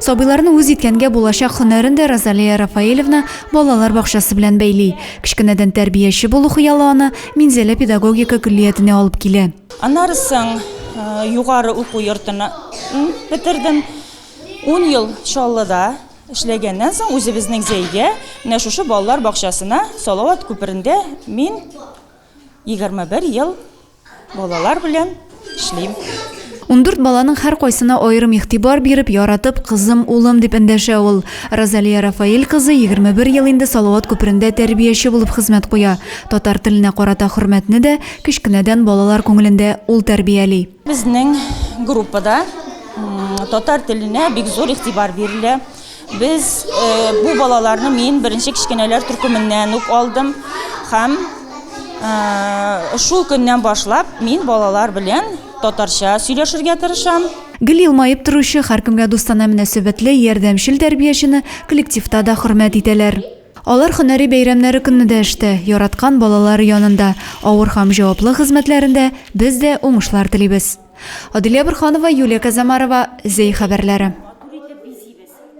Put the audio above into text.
Сабыйларны үз иткәнгә булачак һөнәрен дә Розалия Рафаэлевна балалар бакчасы белән бәйли. Кечкенәдән тәрбияче булу хыялы аны Минзәлә педагогика көллиятенә алып килә. Аннары соң югары уку йортын бетердем. Ун ел Чаллыда эшләгәннән соң, үзебезнең Зәйгә, менә шушы балалар бакчасына, Салават күперендә мин 21 ел Балалар белән эшлим. Ундүрт баланың һәркайсына аерым игътибар биреп, яратып, кызым, улым, дип эндәшә ул. Розалия Рафаэль кызы 21 ел инде Салават күперендә тәрбияче булып хезмәт куя. Татар теленә карата хөрмәтне дә кечкенәдән балалар күңелендә ул тәрбияли. Безнең группада татар теленә бик зур игътибар бирелә. Без бу балаларны мин беренче кечкенәләр төркеменнән үк алдым һәм шул көннән башлап мин балалар белән татарча сөйләшергә тырышам. Гел елмаеп торучы, һәркемгә дустана мөнәсәбәтле, ярдәмчел тәрбиячене коллективта да хөрмәт итәләр. Алар һөнәри бәйрәмнәре көнне дә эштә, яраткан балалары янында, авыр һәм җаваплы хезмәтләрендә без дә уңышлар телибез. Аделя Борһанова, Юлия Казамарова, Зәй хәбәрләре.